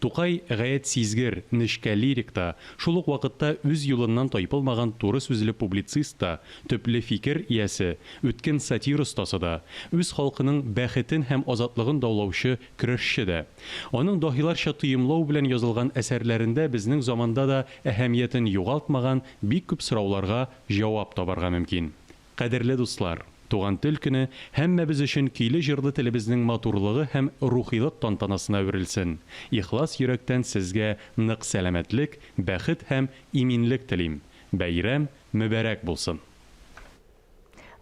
Тукай гаять сизгер, нечкә лирик та, шул ук вакытта үз юлыннан тайпылмаган туры сүзле публицист та, төпле фикер иясе, үткен сатир остасы да, үз халкының бәхетен һәм азатлыгын даулаучы көрәшче дә. Аның даһиларча тоемлау белән язылган әсәрләрендә безнең заманда да әһәмиятен югалтмаган бик күп сорауларга җавап табарга мөмкин. Кадерле дуслар! Туган тел көне һәммәбез өчен көйле-җырлы телебезнең матурлыгы һәм рухилык тантанасына әверелсен! Ихлас йөрәктән сезгә нык сәламәтлек, бәхет һәм иминлек телим! Бәйрәм мөбәрәк булсын!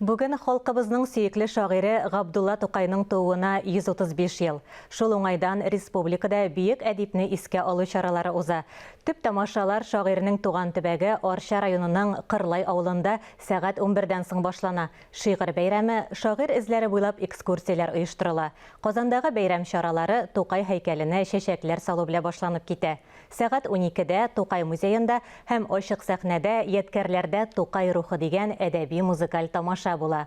Бүген халкыбызның сөекле шагыйре Габдулла Тукайның тууына 135 ел. Шул уңайдан республикада бөек әдипне искә алу чаралары уза. Төп тамашалар шагыйрьнең туган төбәге Арча районының Кырлай авылында Сәгать унбердән соң башлана Шигырь бәйрәме, шагыйрь эзләре буйлап экскурсияләр оештырыла. Казандагы бәйрәм чаралары Тукай һәйкәленә чәчәкләр салу белән башланып китә. Сәгать уникедә Тукай музеенда һәм ачык сәхнәдә Ядкәрләрдә Тукай рухы дигән әдәби-музыкаль тамаша була.